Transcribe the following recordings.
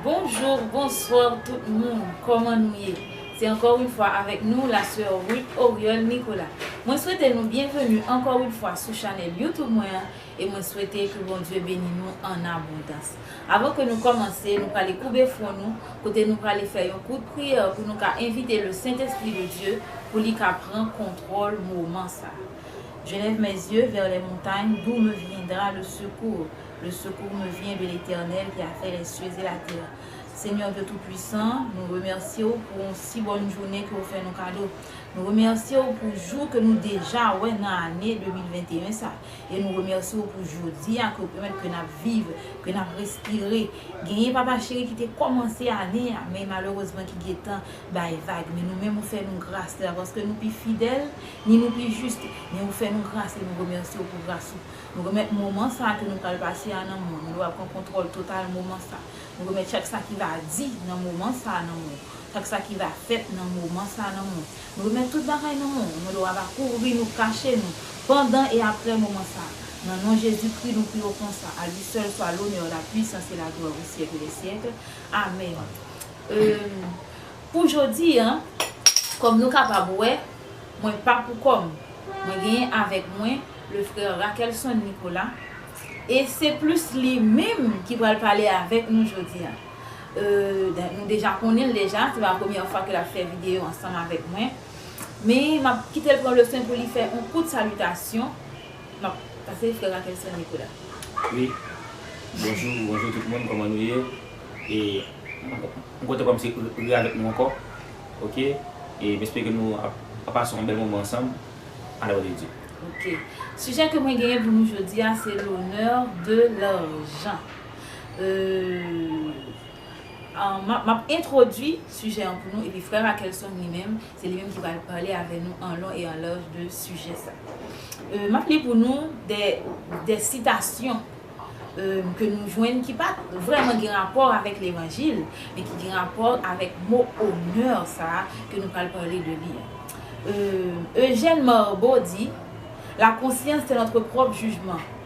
Bonjour bonsoir tout moun koman nou ye se anko yn fwa avek nou la soeur Ruth Oriol Nicolas mwen swete nou byenveni anko yn fwa sou chanel YouTube mwen an e mwen swete ke Bondye beni nou an abondans. Avan ke nou kòmanse, nou prale koube fwon nou, kote nou prale fè yon kout priyè pou nou ka envite le Sentespri de Dye pou li ka pran kontwòl moman sa. Je lève mes yeux vers les montagnes, d'où me viendra le secours? Le secours me vient de l'Eternel ki a fè les cieux et la terre. Senyè Dye Toupuisan, nou remèsye ou pou yon si bòn jounen ke ou fè nou kado. Nou remèsye ou pou jou ke nou deja wè nan ane 2021 sa. E nou remèsye w pou jodi a ke w pèmèt ke n ap viv, ke n ap respire. Genyen Papa cheri ki te kòmanse ane a, men malerezman ki gen tan bay vag. Men nou menm ou fè nou gras, se pa paske nou pi fidèl, ni nou pi jis, men ou fè nou gras e nou remèsye w pou gras ou. Nou remèt moman sa a ke nou pral pase a nan men w. Nou lè w ap pran kontwòl total moman sa. Nou remèt chak sa ki va di nan moman sa a nan men w. Chak sa ki va fèt nan moman sa a nan men w. Nou remèt tout bagay nan men w. Mande w aba kouvri nou, kache nou, pandan e aprè moman sa a. Nan non Jezi Kri nou pri w konsa. A li sèl swa lonè, la pwisans e la glwa pou syèk dè syèk. Amèn. Eum pou jodi a, kòm nou kapab wè, mwen pa pou kò m. Mwen genyen avèk mwen le frè Rackelson Nicolas e se plis li menm ki pral pale avèk nou jodi a. euh nou deja konnenl deja se pa premyè fwa ke lap fè video ansanm avèk mwen men map kitel pran le swen pou li fè on kout salitasyon map pase frè Rackelson mikro la. Wi bonjou bonjou tout moun kòman nou ye e m kontan kòmanse re avèk nou ankò ok e m espere ke nou ap pase on bèl moman ansanm a la glwa de Dye. Ok sijè ke mwen genyen pou nou jodia se l'honneur de l'argent. L M ap entwodui sijè an pou nou epi frè Rakelson li menm, se li menm ki pral pale avè nou an lon e an laj de sijè sa. M ap li pou nou de sitasyon ke nou jwenn ki pa vrèman gen rapò avèk levanjil men ki gen rapò avèk mo onè sa a ke nou pral pale de li an. Eugène Marbeau di, La conscience est notre propre jugement.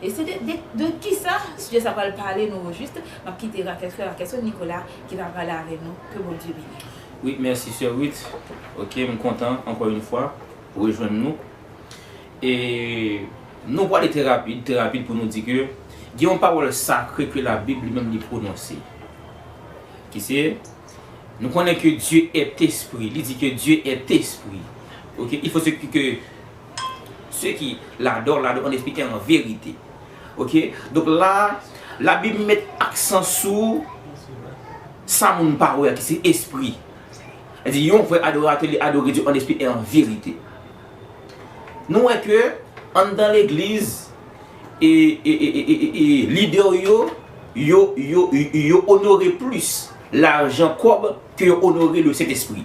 E se de de kisa sijè sa pral pale nou ojuste, map kite rakèt frè rakètsè Nikola ki va pale avè nou ke Bondye beniw. Wi mèsi sè Ruth ok m kontan ankò yn fwa rejwenn nou e nou pwale trè rapid trè rapid pou nou di ke gen yon pawòl sakre ke la bib li menm li pwononse ki se nou konnen ke Dye èt espri li di ke Dye èt espri ok il fo se ke Se ki ladò, ladò an esplike an verite. Ok, donk la, labib met aksan sou sa moun pa wè a ki se espri. Li di yon vrè adoratè li adore Dye an espri e an verite. Nou wè ke anndan legliz e lidè yo, yo, yo, yo onore plis lajan kòb ke yo onore le Sentespri.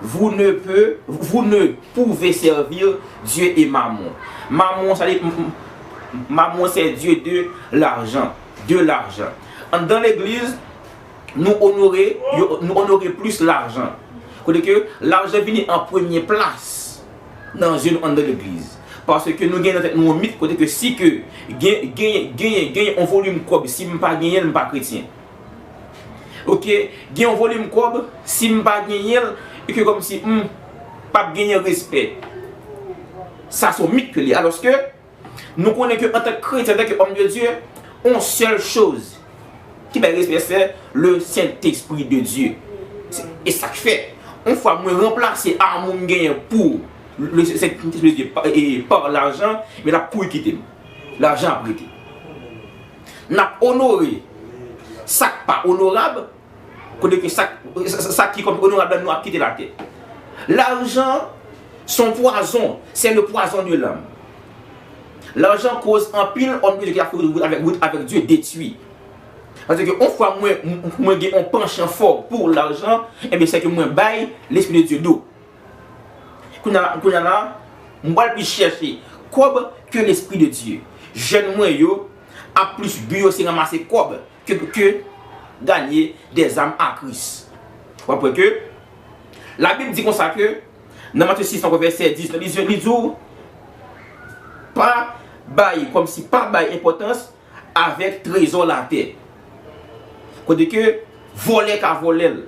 Vous ne peut, vous ne pouvez servir Dieu et Mammon. Mammon sa vle di, Mammon se dye de lajan, de lajan. Anndan legliz, nou onore, nou onore plis lajan. Kote ke lajan vini an premye plas nan zye nou anndan legliz. Paske nou gen nan tèt nou yon mit kote ke si ke gen, gen, gen yon volim kòb si m pa genyen l m pa kretyen. Ok gen yon volim kob sim pa genyen l e ke kom si m pap genyen respè. Sa son mit ke li aloske nou konnen ke antanke kretyen antanke òm de Dye on sèl choz ki bay respè se le sentespri de Dye. E sak fè on fwa mwen ranplase amou m genyen pou le sentespri de Dye par lajan men lap kouri kite m. Lajan ap rete. N ap onore sa k pa onorab, kote ke sa ki kòm onorab la nou ap kite l atè. Lajan s on pwazon, sè le pwazon de lanm. Lajan koz anpil òm de Dye ki ap fè wout avèk Dye detwi. Pase ke on fwa mwen gen on panchan fò pou lajan, enben sè ke mwen bay Lespri de Dye do. Kounya la, mwen pral plis chèche kòb ke lespri de Dye. Jèn mwen yo ap plis bi yo se ranmase kòb ke ganye dè zam a Kris. Wap wè ke la Bib di konsa ke nan Matye 6 anko vèsè 10 la li di ou pa bay kòmsi pa bay enpòtans avèk trezò latè. Kote ke vòlè ka vòlè l,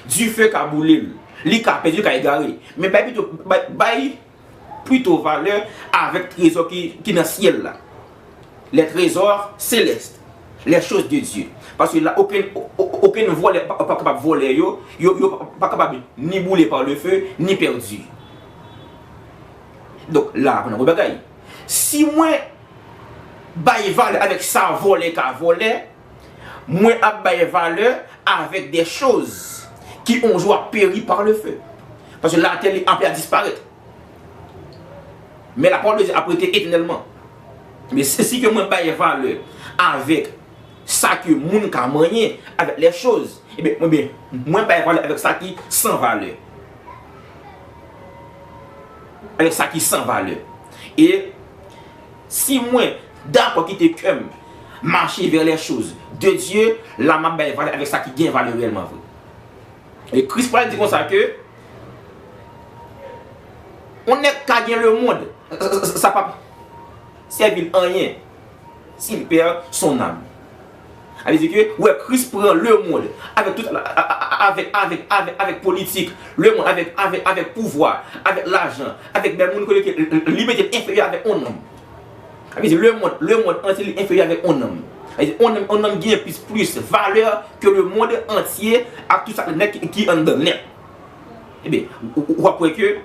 dife ka boule l, li ka pèdi, li ka egare. Men bay pito, bay pito valè avèk trezò ki nan syèl la. Les trésors célestes, les choses de Dieu. Paske la okenn, okenn vòlè pa kapab vòlè yo, yo pa kapab ni boule par le feu, ni pèdi. Donk la aprann anpil bagay. Si mwen Bay valè avèk sa vòlè ka vòlè, mwen ap bay valè avèk dè choz ki on jou ap peri par le feu. Paske latè li ape a disparèt. Men la pawòl de Dye ap rete etènèlman. Men si ke mwen bay valè avèk sa ke moun ka manyen, avèk lè choz, e ben mwen bay valè avèk sa ki san valè. Alò sa ki san valè. E si mwen dakò kite kè m mache vè lèchoz de Dye, la m ap bay valè avèk sa ki gen valè reyèlman vre. E Kris pral di konsa ke, yon nèg ka gen lemonn, sa p ap sèvi l anyen. S'il perd son âme. Sa vle di ke ou wè Kris pran lemond avèk tout avèk avèk avèk avèk politik, lemond avèk avèk avèk pouvwa, avèk lajan, avèk bèl moun kote ke li mete l enferyè avèk on nonm. Sa vle di lemond lemond antye li enferyè avèk on nonm. Sa vle di on nonm on nonm genyen plis plis valè ke lemond antye ak tout sa k nèt ki anndan l nèt. Ebyen, ou ap wè ke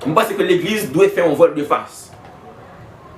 m panse ke legliz dwe fè on vòl de fas.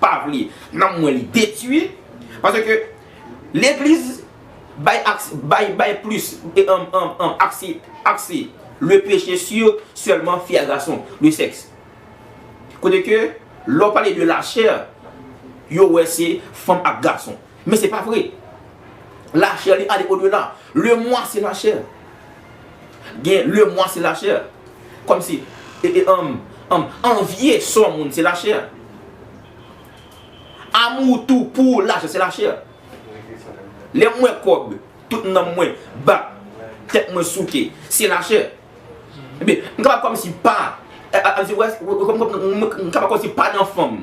pa vle nanm mwen li detui pase ke legliz bay akse bay bay plis akse akse le peche si selman fi a gason le seks kote ke lè w pale de la chè yo wè se fanm ak gason men se pa vre la chè li ale odela le mwa se la chè. gen le mwa se lachè kòm si anvye sò moun se lachè amou tou pou lachè se lachè lè mwen kòb tout nanm mwen bat tèt mwen souke se lachè m kapab kòm si pa m kapab kòm si pa nan fanm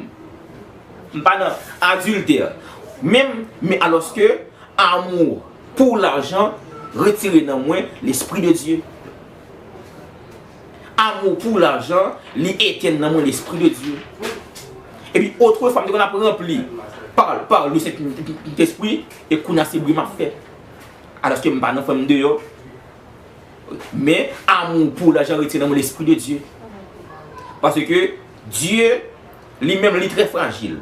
m pa nan adiltè menm men alòske amou Pou lajan retire nan mwen lespri de Dye. Amou pou lajan li etenn nan mwen lespri de Dye. Epi otrefwa m te konn ap ranpli pa le Sentespri e kounya se bri m ap fè. Alòske m pa nan fè m deyò. Men amou pou lajan retire nan mwen lespri de Dye. Paske Dye li menm li trè frajil.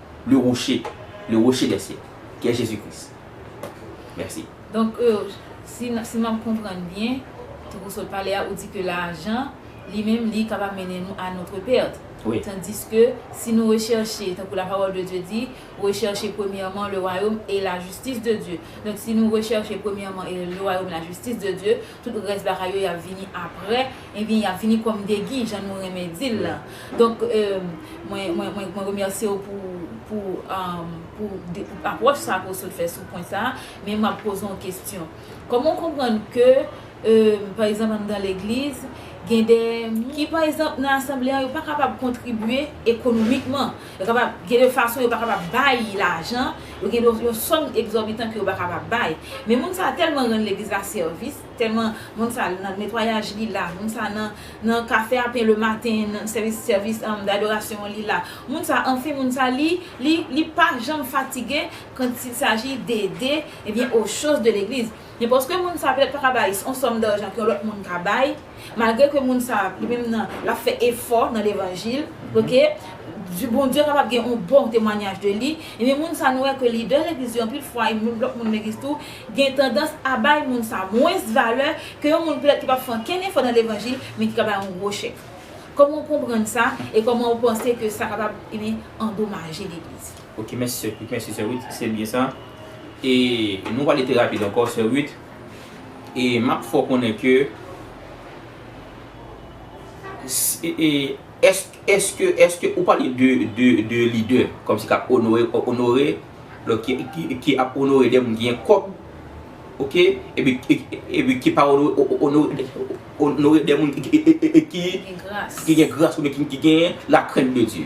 Le rocher, le rocher des siècles, ki est Jésus Christ. Merci. Donk si m ap konprann byen, tankou w sot pale a, ou di ke lajan li menm li kapab mennen nou a notre perte. Wi. Tandiske si nou rechèche, tankou la parole de Dieu dit, recherchez premièrement le royaume et la justice de Dieu. Donk si nou rechèche premièrement le royaume et la justice de Dieu, Tout rès bagay yo yap vini aprè ebyen yap vini kòm degi jan nou renmen dil la donk mwen remèsyew pou apwòch sa ke w sot fè sou pwen sa men map poze yon kesyon kòman w konprann ke pa egzanp anndan legliz gen de moun ki pa egzanp nan asanble an yo pa kapab kontribye ekonomikman Yo kapab gen de fason yo pa kapab bay lajan, yo gen de yon sòm egzòbitan ke yo pa kapab bay. Men moun sa a tèlman rann legliz la sèvis, tèlman moun sa nan netwayaj li la, moun sa nan nan kafe a pen le maten, nan sèvis sèvis dadorasyon an li la, moun sa anfen moun sa li li li pa janm fatige kant il saji d'ede ebyen o choz de legliz. Men paske moun sa petèt paka bay on sòm darjan ke yon lòt moun ka bay, malgre ke moun sa li menm nan lap fè efò nan levanjil ok di Bondye kapab gen on bon temwanyaj de li, ebyen moun sa nou wè ke lidè legliz yo anpil fwa e moun lòt moun legliz tou gen tandans a bay moun sa mwens valè ke yon moun petèt ki pap fè ankenn efò nan levanjil men ki ka bay on gwo chèk. Kòman ou konprann sa e kòman ou panse ke sa kapab ebyen andomaje legliz? Ok mèsi sè Ruth, mèsi sè Ruth se byen sa e nou pale trè rapid ankò sè Ruth e map fè w konnen ke eske eske ou pale de de de lidè kòmsi kap onore onore lòt ki ap onore de moun ki gen kòb ok epi epi ki pa onore onore de moun ki gen gras ki gen gras oubyen ki gen la krent de Dye.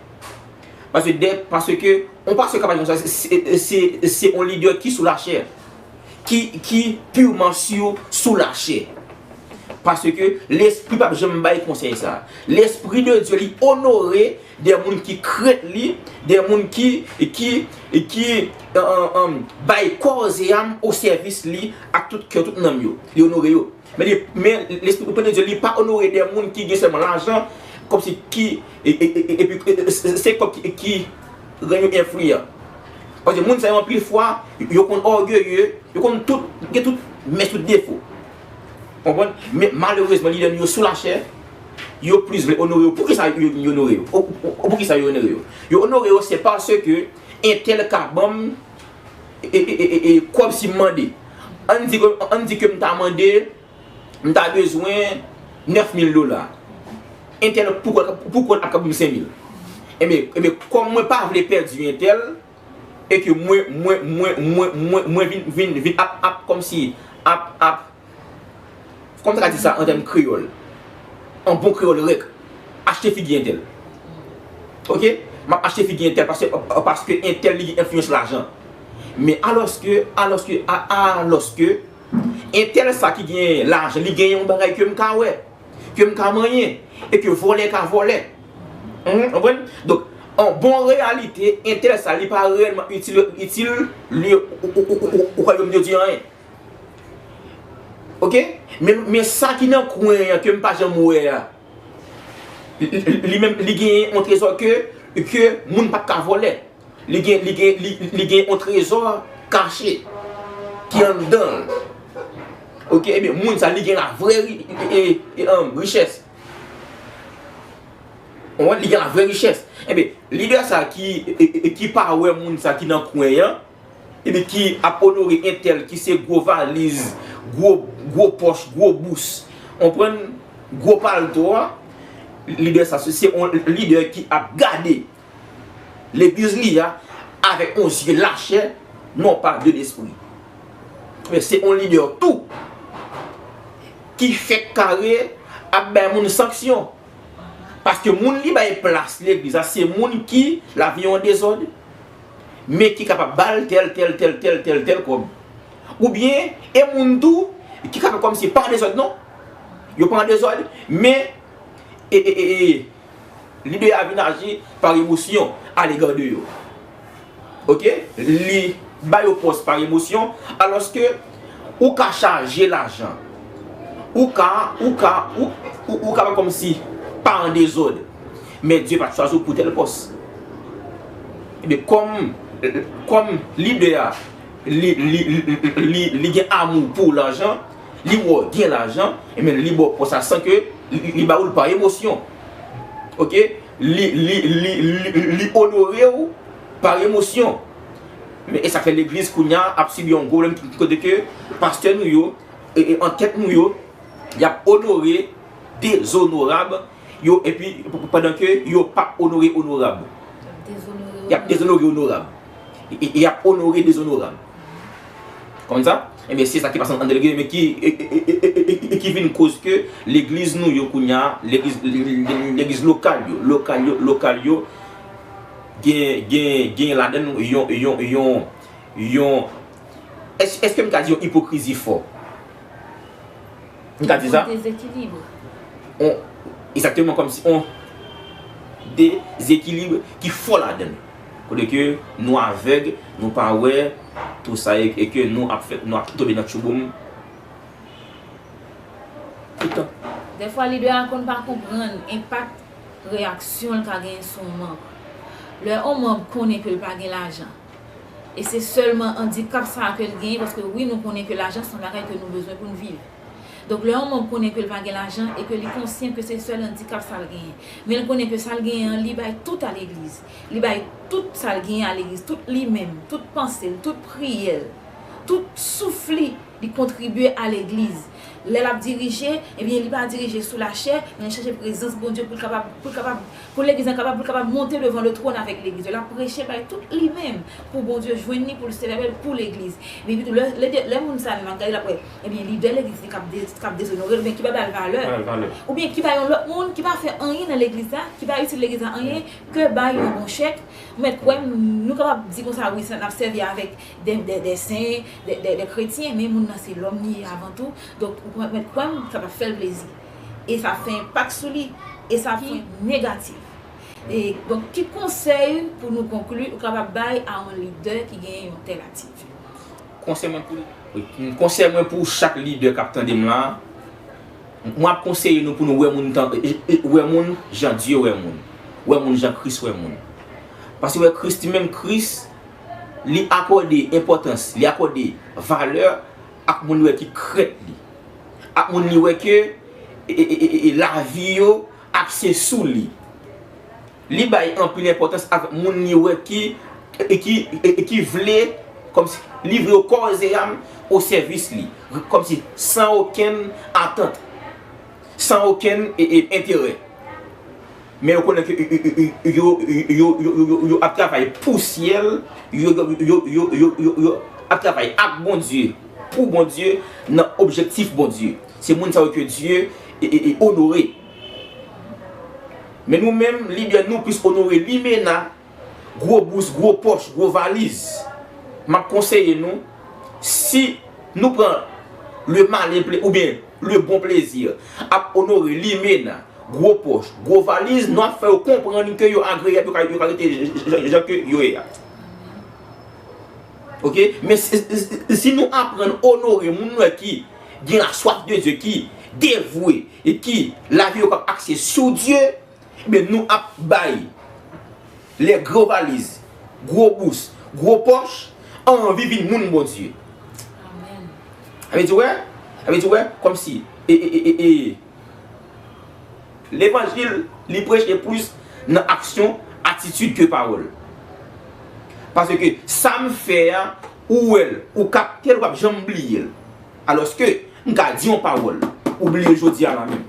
Pase de, pase ke, on pase ka pa di konsa, se, se on lidè ki sou la chè. Ki, ki purman sur sou la chè. Pase ke lespri pap janm bay konsèy sa. Lespri de Dye li onore de moun ki krent li, de moun ki, ki, ki, an, an, an, bay kò e zè a m o sèvis li ak tout kè, tout nanm yo. Li onore yo. Men, lespri ou konnen Dye li pa onore de moun ki gen sèlman lajan kòmsi ki epi se kòb ki rann yo enfliyan. Paske moun sa yo anpil fwa yo konn ògeye, yo konn tout gen tout mès tout defo. Konprann? Men malerezman lidè nou yo sou lachè, yo plis vle onore yo. Poukisa yo vin onore yo? Poukisa yo onore yo? Yo onore yo se paske entèl ka banm Kòb si m mande. Ann di ke, ann di ke m ta mande, m ta bezwen 9000 dola. Entèl pou kont, pou kont ap ka banm 5000. Enben, enben kòm mwen pa vle pèdi entèl, e ke mwen, mwen, mwen, mwen, mwen, mwen vin, vin, vin ap, ap kòm si ap, ap. Kòman ta ka di sa an tèm kreyòl? An bon kreyòl rèk, achte figi entèl. Ok? M ap achte figi entèl paske, paske entèl li gen enfliyans lajan. Men alòske, alòske, a, a, alòske, entèl sa ki gen lajan, li gen yon bagay ke m ka wè, ke m ka manyen e ke vòlè ka vòlè. Mph, ou konprann? Donk, an bon reyalite, entèl sa li pa reyèlman itil, itil, li, ou, ou, ou, ou, ou kwè yo m yo di anyen? Ok men sa ki nan kwen an ke m pa janm wè a li menm li gen yon trezò ke ke moun pa t ka vòlè li gen li gen li gen yon trezò kache ki anndan l ok e byen moun sa li gen la vrè richès ou wè li gen la vrè richès e byen lidè sa ki ki pa wè moun sa ki nan kwen an Epi ki ap onore entèl ki se gwo valiz, gwo pòch, gwo bous. Konprann? Gwo palto a. Lidè sa se yon lidè ki ap gade legliz li a avèk yon zye lachè, non pa de lespri. Men se yon lidè tou ki fèk kare ap bay moun sanksyon. Paske moun li bay plas legliz la se moun ki lavi an dezòd, men ki kapab ba l tèl tèl tèl tèl tèl tèl kòb. Oubyen e moun tou ki kapab kòm si pa an dezòd non, yo pa an dezòd men lidè a vin aji par emosyon alega de yo. Ok, li ba yo pòs par emosyon alòske. Ou ka chaje lajan. Ou ka, ou ka, ou, ou ka fè kòmsi pa an dezòd. Men Dye pa t chwazi w pou tèl pòs. Ebyen kòm, kòm lidè a, li, li, li, li gen amou pou lajan, li wè w gen lajan, ebyen li ba w pòs la san ke li ba ou l pa emosyon. Ok? Li, li, li, li, li onore w pa emosyon. Men e sa k fè legliz kounye a ap sibi yon gwo pwoblèm ki kote ke pastè nou yo e an tèt nou yo y ap onore dezonorab yo epi pandan ke yo p ap onore onorab. Y ap dezonore onorab. Y ap onore dezonorab. Ou konprann sa? Enben se sa ki pase an de legliz men ki e ki vin koz ke legliz nou yo kounye a legliz lokal yo lokal yo lokal yo Gen, gen, gen ladann yon, yon, yon, yon, èske, èske m ka di yon ipokrizi fò? M ka di sa? On dezekilibre. On, egzakteman kòm si on dezekilibre ki fò ladann. Kote ke nou avèg, nou pa wè tou sa e, e ke nou ap fè, nou ap tonbe nan tchouboum tout tan. Dèfwa lidè a konn pa konprann enpak. reyaksyon l ka genyen sou yon manb. Lè yon manb konnen ke l pa gen lajan, e se sèlman andikap sa a ke l genyen, paske wi nou konnen ke lajan se yon bagay ke nou bezwen pou n viv. Donk lè yon manb konnen ke l pa gen lajan e ke li konsyan ke se sèl andikap sa l genyen, men l konnen ke sa l genyen an li bay tout a legliz, li bay tout sa l genyen a legliz, tout li menm, tout panse l, tout priyè l, tout souf li, li kontribye a legliz. Lè l ap dirije, ebyen li pa dirije sou lachè, men li chache prezans Bondye pou l kapab, pou l kapab, pou Legliz la kapab, pou l kapab monte devan le twòn avèk Legliz yo. L ap preche bay tout li menm pou Bondye jwenn li, pou l sèvi avè l pou Legliz. Men epitou lè, lè de, lè moun sa a menm ap gade l ap wè, ebyen lidè Legliz li k ap de, k ap dezonore l oubyen ki pa ba l valè, oubyen ki ba yon lòt moun ki pa fè anyen nan Legliz la, ki pa itil Legliz la anyen ke bay yon bon chèk, ou mèt kwè m, nou kapab di konsa wi sa, n ap sèvi avèk. de de sen, de de de kretyen, men moun nan se lòm li ye avan tou, donk ou mèt kwè m sa pap fè l plezi, e sa ap fè enpak sou li, e sa ap fè enpak negatif. E donk ki konsèy pou nou konkli ou kapab bay a yon lidè ki genyen yon tèl atitid? Konsèy mwen pou, konsèy mwen pou chak lidè kap tande m la, mwen ap konseye nou pou nou wè moun tan, wè moun jan Dye wè moun, wè moun jan Kris wè moun. Paske wè Kris li menm, Kris. Li akòde enpòtans, li akòde valè ak moun li wè ki krèt li, ak moun li wè ke lavi yo apse sou li. Li bay anpil enpòtans ak moun li wè ki vle kòmsi livre yo kòz e am o sèvis li, kòmsi san okenn atant, san okenn enterè. Men yo konnen ke yo ap travay pou syèl, yo ap travay ak Bondye, pou Bondye, nan objektif Bondye. Se moun sa yo ke Dye onore. Men nou menm, libyen, nou plis onore limena. gwo bous, gwo pòch, gwo valiz, m ap konseye nou, si nou pran le malin plezi, oubyen le bon plezi ap onore limena, gwo pòch, gwo valiz, nou ap fè yo konprann ke yo agreyab, yo ka rete jan ke yo ye a. Ok, men si nou aprann onore moun nou wè ki gen la swaf de Dye, ki devwe, e ki lavi yo pa akse sou Dye, Enben nou ap bay lè gwo valiz, gwo bous, gwo pòch anvi vin moun Bondye. Amen. Levanjil li preche plis nan aksyon, atitid ke pawòl. Paske sam fè a ou wèl, ou kaptel ou pap janm bliyel. Alòske m ka di yon pawòl ou bliye jodia la menm.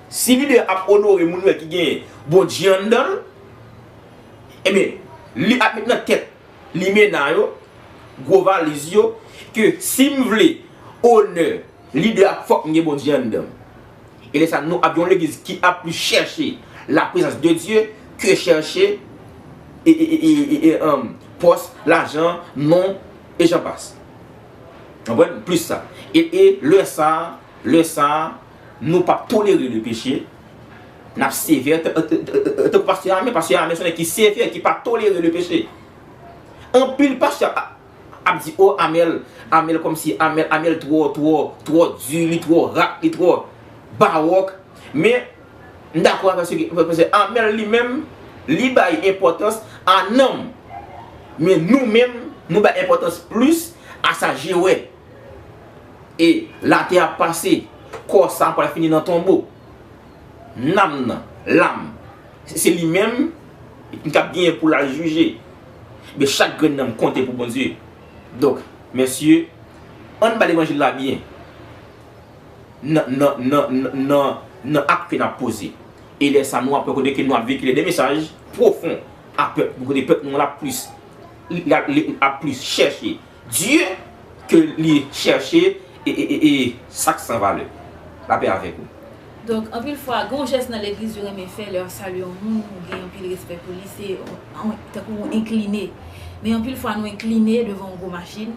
Si video ap onore moun wè ki gen bondye anndanl Ebyen li ap met nan tèt limena yo gwo valiz yo ke sim vle onè lidè a fòk m gen bondye anndanm E lèsa nou ap gen yon legliz ki ap plis chèche la prezans de Dye ke chèche pòs, lajan, non e jan pas Konprann plis sa E lèsa. Lè sa a, nou pap tolere le peche, nap sevè tankou pastè Amè, pastè Amè son nèg ki sevè, ki pa tolere le peche. Anpil pastè ap di oh Amel, Amel kòmsi, Amel, Amel twò, twò, twò di, li twò rat, li twò baròk. Men, m dakò avè se ke pastè Amel li menm, li bay enpòtans a nanm. Men nou menm, nou bay enpòtans plis a sa je wè. E latè ap pase, kò sa pral fini nan tonbo. Nanm nan, lam, se li menm ki kab genyen pou l al jije. Men chak grenn nanm konte pou Bondye. Donk, mesye, ann ba levanjil la byen nan ak ke n ap poze. E lè sa nou ap wè kote ke nou ap vekile de mesaj pwofon a pèp nou kote pèp nou an ap plis chèche Dieu ke li chèche e sak san valè. Lapè avèk ou. Donk anpil fwa gen yon jès nan legliz yo renmen fè lè yap salye yon moun ou gen anpil respè pou li se tankou ou enkline men anpil fwa nou enkline devan yon gwo machin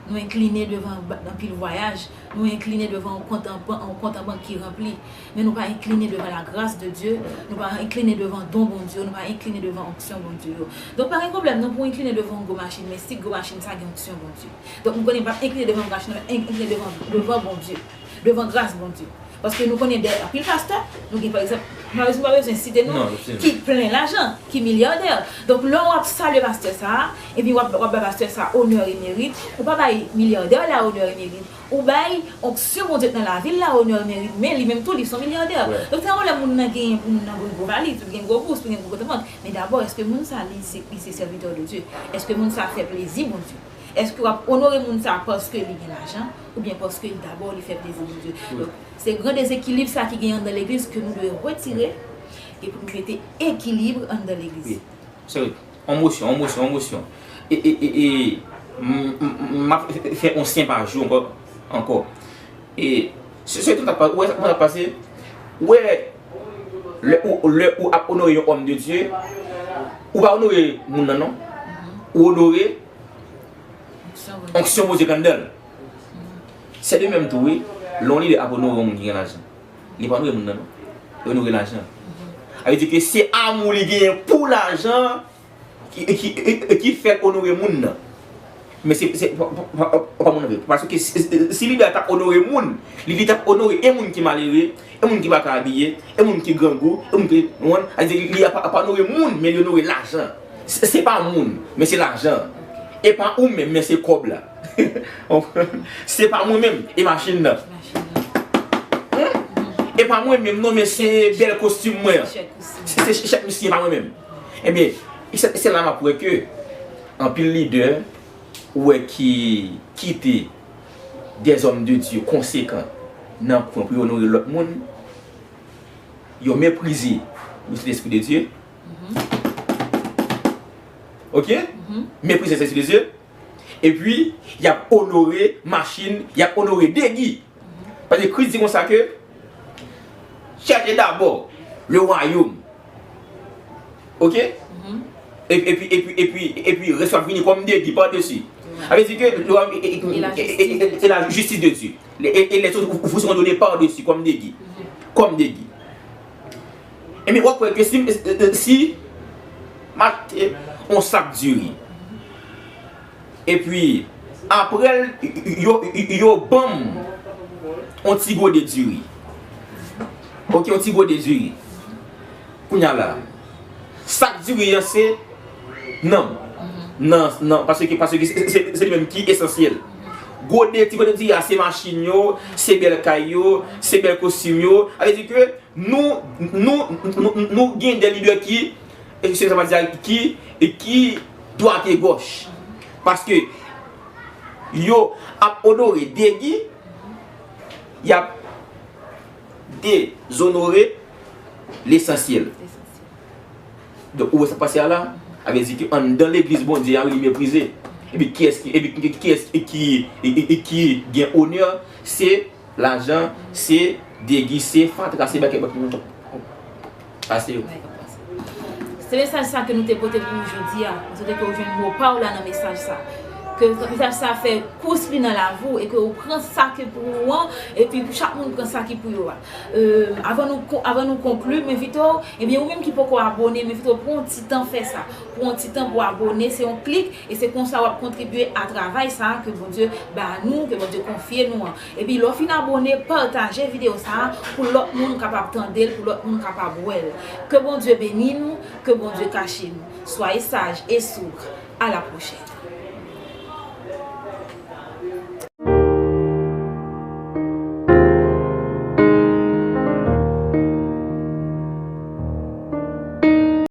nou enkline devan anpil vwayaj nou enkline devan yon kont an bank ki ranpli men nou pa enkline devan lagras de Dye, nou pa enkline devan don Bondye yo, nou pa enkline devan onksyon Bondye yo. Donk pa gen pwoblèm non pou w enkline devan yon gwo machin, men si gwo machin sa gen onksyon Bondye. Donk m konnen pa enkline devan machin nan, men enkline devan, devan Bondye, devan gras Bondye. Paske nou konnen de anpil pastè, nou gen pa egzanp, m pa bezwen, m pa bezwen site non, ki plen lajan, ki milyardè. Donk lè w ap salye pastè sa a, epi w ap, w ap bay pastè sa a onè e merit, ou pa bay milyardè la onè e merit, Ou bay onksyon Bondye t nan lavil la onè l merit men li menm tou li son milyardè donk se yon lè moun nan genyen pou moun nan gwo vale li tou gen gwo bous tou gen gwo kontantman men dabò eske moun sa li se li se sèvitè de Dye eske moun sa fè plezi Bondye eske wap onore moun sa paske li gen lajan oubyen paske li dabò li fè plezi Bondye donk se gran dezekilib sa ki genyen anndan legliz ke nou dwe retire e pou nou mete ekilib anndan legliz. On mosyon, on mosyon, on mosyon. E, e, e, e, m, m ap fè on syen pa jou ankò, ankò. E, se, se tout ap pa, ou wè sa kòman l ap pase? Ou wè, lè ou, lè ou ap onore yon òm de Dye, ou pa onore moun nan non. Ou onore onksyon Bondye ki anndan l. Se de menm tou wi, lè yon lidè ap onore yon moun ki gen lajan. Li pa dwe moun nan non. Li onore lajan. Sa vle di ke se amou li genyen pou lajan an ki fè l onore moun nan. Men se pa moun nan vre. Paske si li ta onore moun, li ta onore e moun ki malere, e moun ki pa ka abiye, e moun ki grangou, e moun ki, ou konprann? Sa vle di li pa onore moun, men li onore lajan. Se pa moun, men se lajan. E pa ou menm, men se kòb la. Se pa mwen menm e machin nan. E pa mwen menm non men se bèl kostim mwen an. Se se chèk misye pa mwen menm. Ebyen, se la map wè ke anpil lidè ou wè ki kite de zòm de Dye konsekan nan kwen pou yo onore lòt moun, yo meprize le Sen Espri de Dye. Ok? Meprize le Sen Espri de Dye. Epi, y ap onore machin, y ap onore degi. Paske Kris di konsa ke, Chèche dabò le wayòm. Ok? Epi, epi, epi, epi, rès yo ap vini kòm degi padesi. Sa vle di ke le wayòm e la jistis de Dye. E lèzot vou seront done padesi kòm degi. Kòm degi. Ebyen wap wè ke si m'achte yon sak diri epi apre yo banm yon ti gode diri ok yon ti gode diri kounya la sak diri an se nanm nan paske se li menm ki esansyèl gode ti gode diri a se machin yo se bèl kay yo se bèl kostim yo sa vle di ke Nou, nou, nou, nou gen de lidè ki, eske sa vle di a ki, ki dwat e gòch. Paske yo ap onore Degi, y ap dezonore lesansyèl. Donk ou wè sa k pase a la? Sa vle di ke anndan legliz Bondye a li meprize. Epi kiyès ki, epi kiyès ki, ki gen onè? Se Lajan se degi se fatra se bèkè bèkè nou pase yo. Se mesaj sa ke nou te pote pou ou jodi a. Nou swete ke ou jwenn mo pa ou la nan mesaj sa. Ke mesaj sa fè kous li nan lavi ou e ke ou pran sa ki pou ou an e pi pou chak moun pran sa ki pou yo a. Avan nou konkli, m envite ou, ebyen ou menm ki poko abone, m envite ou pran yon ti tan fè sa. Pran yon ti tan pou abone, se yon klik. E se konsa wap kontribye a travay sa ke Bondye ba nou, ke Bondye konfye nou an. Epi lè w fin abone, pataje video sa pou lòt moun kapab tande l, pou lòt moun kapab wè l. Ke Bondye beni nou, ke Bondye kache nou. Soyez saj e sougr. A la pwochèn.